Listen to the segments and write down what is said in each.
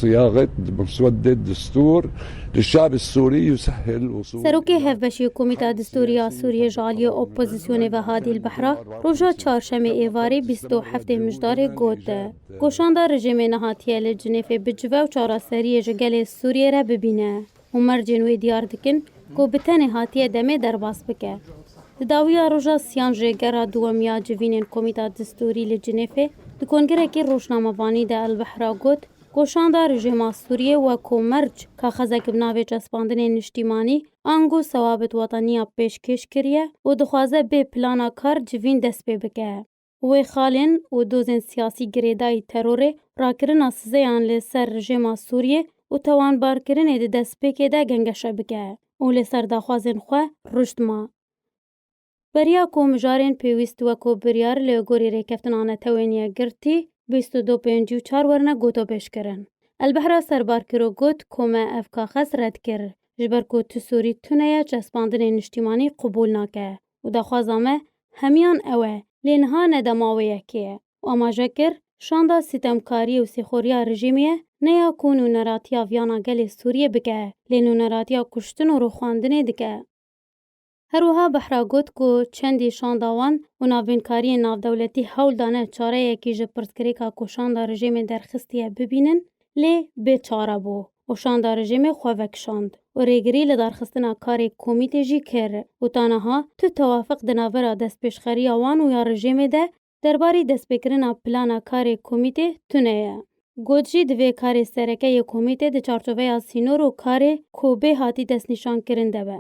Siyaxet di muswedê distûr li şarê Sûrî Yusehil û Sûrî. Serokê Hevbeşê Komîta Distûrî ya Sûrîyê ji aliyê opozîsyonê ve Hadî Elbehra roja Çarşemê êvarê bîst û heftê Mijdarê got, Goşanda rejîmê nehatiye li Cinêfê bicive û çareseriyê ji gelê Sûrîyê re bibîne. û mercên wê diyar dikin ku bi tenê hatiye demê derbas bike. Di dawiya roja siyan jê gera dûwem ya civînên Komîta Distûrî li Cinêfê di kongirekî rojnamevanî de Elbehra got ku şanda rejîma Sûriyê weko merc kaxezek bi navê Cespandinê Niştîmanî ango Sewabit Wataniya pêşkêş kiriye û dixwaze bê plana kar civîn dest pê bike. Wê xalên û dozên siyasî girêdayî terorê, rakirina sizeyan li ser rejêma Sûriyê û tawanbarkirinê di destpêkê de gengeşe bike û li ser daxwazên xwe rûşt ma. Beriya ku mijarên pêwîst weko biryar li gorî rêkeftina netewên yekgirtî bîst û du pêncî û çar werine gotopêşkirin. Elbehra Serbarkirok got ku me ev kaxez red kir ji ber ku tu Sûrî tune ye çespandinên niştîmanî qubûl nake û daxwaza me hemiyan ew e, lê niha ne dema wê yekê ye û amaje kir, Şanda sîtemkariyê û sîxoriya rejîmê ye, ne ya ku nûneratiya viyana gelê Sûriyê bike, lê nûneratiya kuştin û rûxandinê dike. Her wiha Behra got ku çendî şanda wan û navbînkariyên navdewletî hewl dane çareyekî ji pirsgirêka ku şanda rejîmê derxistiye bibînin, Lê bê çare bû û şanda rejîmê xwe vekişand û rêgirî li darxistina karê komîtê jî kir û ta niha tu tewafiq di navbera destpêşxeriya wan û ya rejîmê de derbarî destpêkirina plana karê komîtê tune ye. Got jî divê karê sereke yê komîtê di çarçoveya sînor û karê ku bê hatî destnîşankirin de be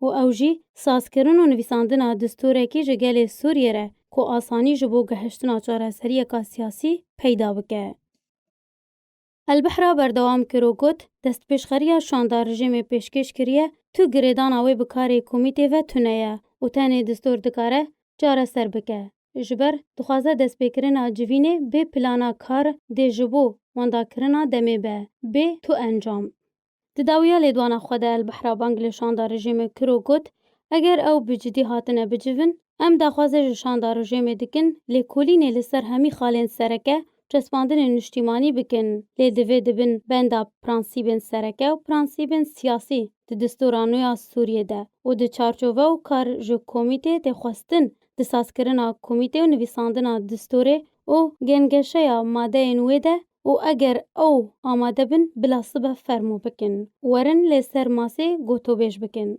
û ew jî sazkirin û nivîsandina distorekî ji gelê Sûriyê re ku asanî ji bo gehiştina çareseriyeka siyasî peyda bike. Elbihra berdewam kir û got, Destpêşxeriya şanda rejîmê pêşkêş kiriye, tu girêdana wê bi karê komîtê ve tune ye û tenê distûr dikare çareser bike. Ji ber dixwaze destpêkirina civînê bê plana kar dê ji bo wendakirina demê be, bê tu encam. Di dawiya lêdwana xwe de Elbehra bang li şanda rejîmê kir û got, Eger ew bi cidî hatine bicivin, em daxwaze ji şanda rejêmê dikin lêkolînê li ser hemî xalên sereke û çespandinên niştîmanî bikin, lê divê di bin benda pransîbên sereke û pransîbên siyasî di distûra nû ya Sûriyê de û di çarçove û kar ji komîtê tê xwestin di sazkirina komîtê û nivîsandina distûrê û gengeşeya madeyên wê de û eger ew amade bin bila sibe fermo bikin û werin lê ser masê gotobêj bikin.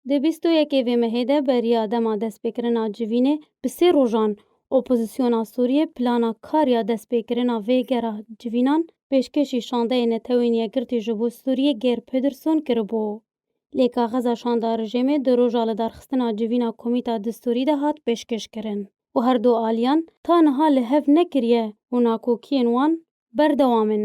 Di bîst û yekê vê mehê de beriya dema destpêkirina civînê bi sê rojan Opozisyona Sûriyê plana kar ya destpêkirina vê gera civînan pêşkêşî Şandeyê Netewên Yekgirtî ji bo Sûriyê Geir Pederson kiribû. lê kaxeza şanda rejêmê di roja lidarxistina civîna komîta distûrî de hat pêşkêşkirin û her du aliyan ta niha li hev nekiriye û nakokiyên wan berdewam in.